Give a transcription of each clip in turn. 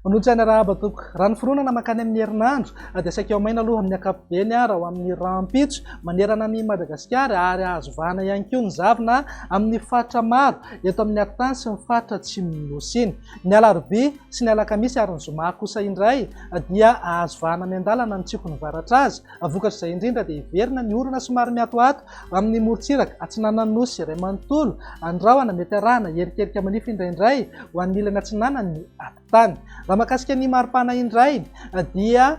Manotsaina rahaba toko. Raha ny fironana makany amin'ny herinandro dia saika ao maina aloha amin'ny ankapobeny raha ho amin'ny rahampitso manerana an'i Madagasikara ary azo vahana ihany koa ny zavona amin'ny faritra maro eto amin'ny Atany sy ny faritra atsimon'ny Nosy iny. Ny alarobia sy ny alakamisy ary ny zoma kosa indray dia ahazo vahana miandalana ny tsioky mivaratra azy. Vokatr'izay indrindra dia hiverina ny orana somary miatoato amin'ny morontsiraka atsinanan'ny Nosy iray manontolo. Ny rahona mety arahana hierikerika manify indraindray ho an'ny ilany atsinanan'ny atitany. Raha mahakasika ny maripana indray dia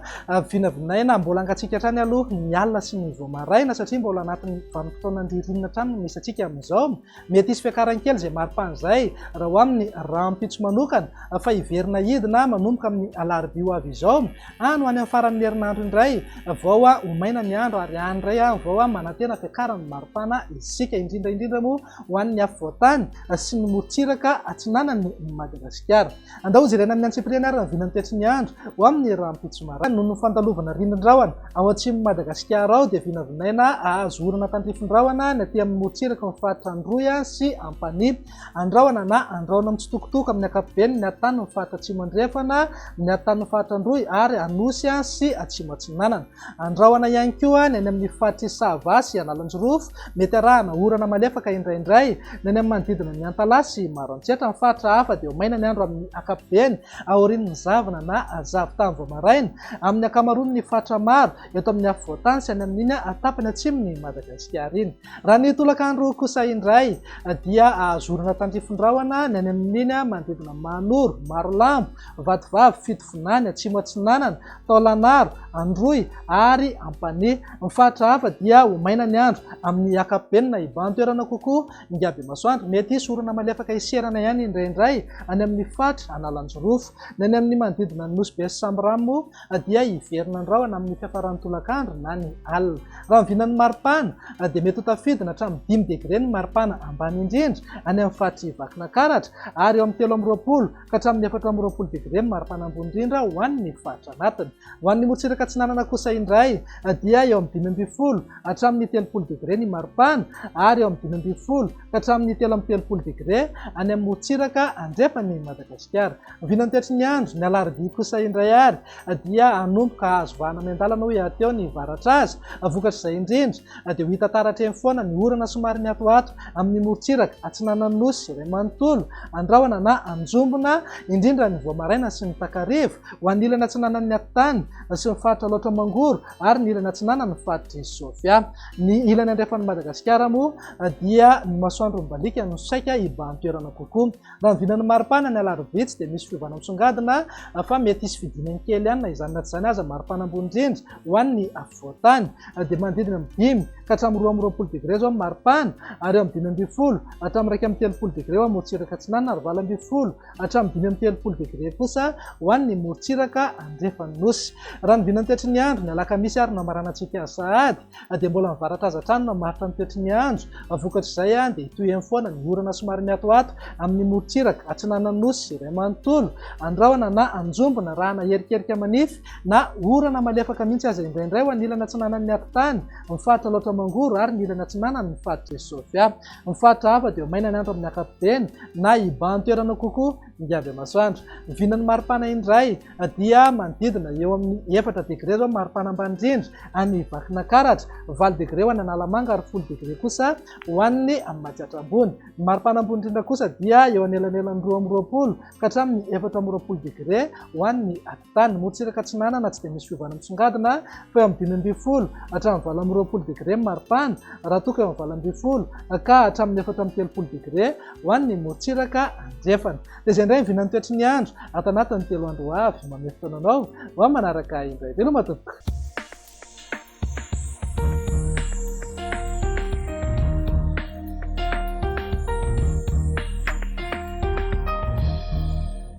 vinavinaina mbola hangatsiaka hatrany aloha ny alina sy ny vao maraina satria mbola anatin'ny vanim-potoanan'ny ririnina hatrany no misy antsika amin'izao. Mety hisy fiakarany kely izay mari-pana izay raha ho amin'ny rahampitso manokana fa hiverina hidina manomboka amin'ny alarobia ho avy izao any ho any amin'ny faran'ny herinandro indray vao ho maina ny andro ary any indray vao manantena fiakaran'ny mari-pana isika indrindra indrindra moa ho an'ny afovoan-tany sy ny morontsiraka atsinanan'i Madagasikara. Andao ho jerena amin'ny antsipiriany ary rahoviana ny tetsy miandry ho amin'ny rahampitso maraina. Noho ny fandalovana ririndrahona ao atsimon'i Madagasikara ao dia vinavinaina hahazo orana tandrifindrahona ny aty amin'ny morontsiraky ny faritra Androy sy Ampanihy. Andrahona na andrahona mitsitokotoko amin'ny ankapobeny ny atanin'ny faritra Atsimo Andrefana, ny atanin'ny faritra Androy ary Anosy sy Atsimo Atsinanana. Andrahona ihany koa ny any amin'ny faritr'i Sava sy Analanjirofo. Mety arahana orana malefaka indraindray ny any amin'ny manodidina an'i Antalaha sy Maroantsetra. Ny faritra hafa dia ho maina ny andro amin'ny ankapobeny aorian'ny zavona na zavon-tany vao maraina amin'ny ankamaroan'ny faritra maro eto amin'ny afovoan-tany sy any amin'iny tapany atsimon'i Madagasikara iny. Raha ny tolakandro kosa indray dia zorana tandrifin-drahona ny any amin'iny manodidina Mahanoro, Marolambo, Vatovavy, Fitovinany, Atsimo Atsinanana, Taolagnaro, Androy ary Ampanihy. Ny faritra hafa dia ho maina ny andro amin'ny ankapobeny na hibahan-toerana kokoa Ngabemasoandro. Mety hisy orana malefaka hiserana ihany indraindray any amin'ny faritra Analanjirofo. Ny any amin'ny manodidina ny Nosy Be sy Sambirano moa na dia hiverina ny rahona amin'ny fiafaran'ny tolakandro na ny alina. Raha ny vinan'ny maripana dia mety ho tafidina hatramin'ny dimy degre ny maripana ambany indrindra any amin'ny faritry Vakinakaratra ary eo amin'ny telo amby roapolo ka hatramin'ny efatra amby roapolo degre ny maripana ambony indrindra ho an'ny faritra anatiny. Ho an'ny morotsiraka atsinanana kosa indray dia eo amin'ny dimy ambin'ny folo hatramin'ny telopolo degre ny maripana ary eo amin'ny dimy ambin'ny folo ka hatramin'ny telo amby telopolo degre any amin'ny morotsiraka andrefan'i Madagasikara. Vinantetry ny andro, ny alarobia kosa indray ary dia hanomboka hahazo vahana miandalana hoy hahateo ny varatra azy. Vokatr'izay indrindra dia ho hita taratra eny foana ny orana somary mihatohato amin'ny morontsiraka atsinanan'ny Nosy izay manontolo an-drahona na an-jombona indrindra ny vao maraina sy ny takariva ho an'ny ilany atsinanan'ny Atitany sy ny faritra Alaotra Mangoro ary ny ilany atsinanan'ny faritr'i Sofia. Ny ilany andrefan'i Madagasikara moa dia ny masoandro mibaliaka no saika hibahan-toerana kokoa. Raha ny vinan'ny maripana ny alarobia tsy dia misy fiovana misongadina fa mety hisy fidinany kely ihany na izany na tsy izany aza maripana ambony indrindra ho an'ny afovoan-tany dia manodidina amin'ny dimy ka hatramin'ny roa amby roapolo degré izao ny maripana ary eo amin'ny dimy ambin'ny folo hatramin'ny iraika amby telopolo degré ho an'ny morotsiraka atsinanana ary valo ambin'ny folo hatramin'ny dimy amby telopolo degré kosa ho an'ny morotsiraka andrefan'ny nosy. Raha ny vinan'ny toetry ny andro ny alakamisy ary ny lamaranantsika sahady dia mbola mivarataza hatrany mamaritra ny toetry ny andro, vokatr'izay dia hitohy eny foana ny orana somary miatoato amin'ny morontsiraka atsinanan'ny Nosy iray manontolo, andrahona na anjombona arahana erikerika manify na orana malefaka mihitsy aza indraindray ho an'ilany atsinanan'ny atitany ny faritra Alaotra Mangoro ary ny ilany atsinanany ny faritra Isofia. Ny faritra hafa dia ho maina ny andro amin'ny ankapobeny na hibahan-toerana kokoa ny andriamasoandro. Vinan'ny maripana indray. dia manodidina eo amin'ny efatra degre izao maripana ambany indrindra any Vakinankaratra, valo degre ho any Analamanga ary folo degre kosa ho any Matsiatra Ambony. Ny maripana ambony indrindra kosa dia eo anelanelan'ny roa amby roapolo ka hatramin'ny efatra amby roapolo degre ho any Atitany. Ny morotsiraka atsinanana tsy dia misy fiovana misongadina fa eo amin'ny dimy ambin'ny folo hatramin'ny valo amby roapolo degre ny maripana raha toa ka eo amin'ny valo ambin'ny folo ka hatramin'ny efatra amby telopolo degre ho an'ny morotsiraka andrefana. Dia izay indray vinan'ny toetry ny andro ato anatin'ny telo andro ho avy. Mamehy fotoana anao ho amin'ny manaraka ahy indray. Veloma tompoko.